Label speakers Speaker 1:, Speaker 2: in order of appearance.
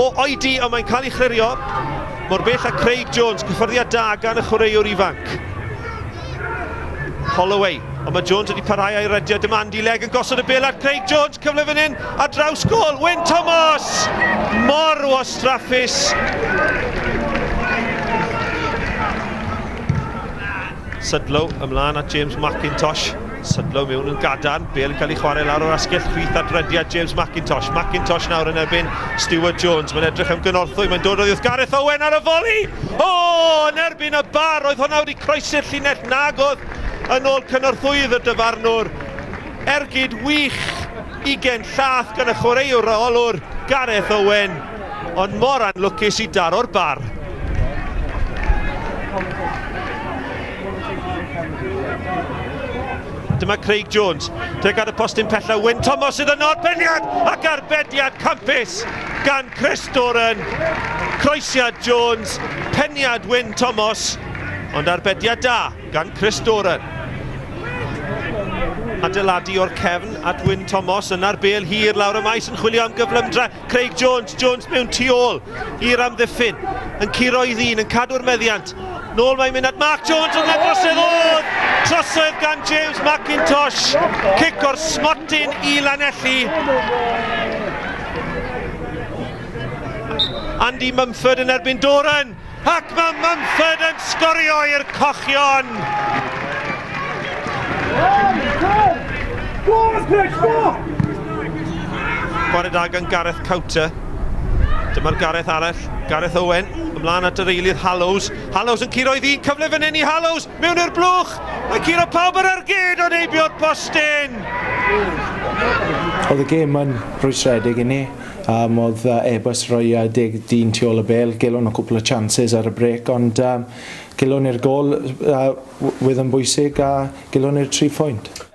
Speaker 1: O oedi ond mae'n cael ei chlirio mor bell a Craig Jones, cyffyrddiad da gan y chwaraewr ifanc. Holloway, ond mae Jones wedi parhau a'i redio, dyma Andy Legg yn gosod y bel at Craig Jones, cyfle fan hyn, a draws gol, Wyn Thomas! Mor wastraffus! Sudlow ymlaen at James McIntosh. Sydlo i mewn yn gadarn, bel yn cael ei chwarae lawr o'r asgell chwith a drediad James Mackintosh. Mackintosh nawr yn erbyn Stuart Jones, mae'n edrych am gynorthwy, mae'n dod oddiwrth Gareth Owen ar y foli! O, yn erbyn y bar, oedd hwnna wedi croesi'r llinell nagodd yn ôl cynorthwyydd y dyfarnwr. Ergyd wych, ugen llath gan y chwaraewr rheolwr, Gareth Owen. Ond mor anlwcus i daro'r bar. Dyma Craig Jones. Tuag at y postyn pella, Wyn Thomas sydd yno'r peniad ac arbediad campus gan Chris Doran. Croesiad Jones, peniad Wyn Thomas, ond arbediad da gan Chris Doran. Adeiladu o'r cefn at Wyn Thomas, yna'r bel hir lawr y maes yn chwilio am gyflymdra. Craig Jones, Jones mewn tu ôl i'r amddiffyn, yn curo i ddyn, yn cadw'r meddiant. Nôl mae'n mynd at Mark Jones, ond mae'n drosedd oedd! Trosedd gan James McIntosh, cic o'r smotyn i Lanelli. Andy Mumford yn erbyn Doran. Ac mae Mumford yn sgorio i'r cochion! Chwarae da gan Gareth Cowter. Dyma'r Gareth arall, Gareth Owen, ymlaen at yr eilydd Hallows. Hallows yn curo i ddyn cyfle fan hyn i Hallows, mewn i'r blwch! Mae curo pawb ar ar gyd o'n heibio'r postyn!
Speaker 2: Oedd y gêm yn rwystredig i ni. Yym oedd uh, Airbus roi uh, deg dyn tu ôl y bel, gelwn o cwpl o chances ar y brec, ond um, gelwn i'r gol uh, wedd yn bwysig a gelwn i'r tri phwynt.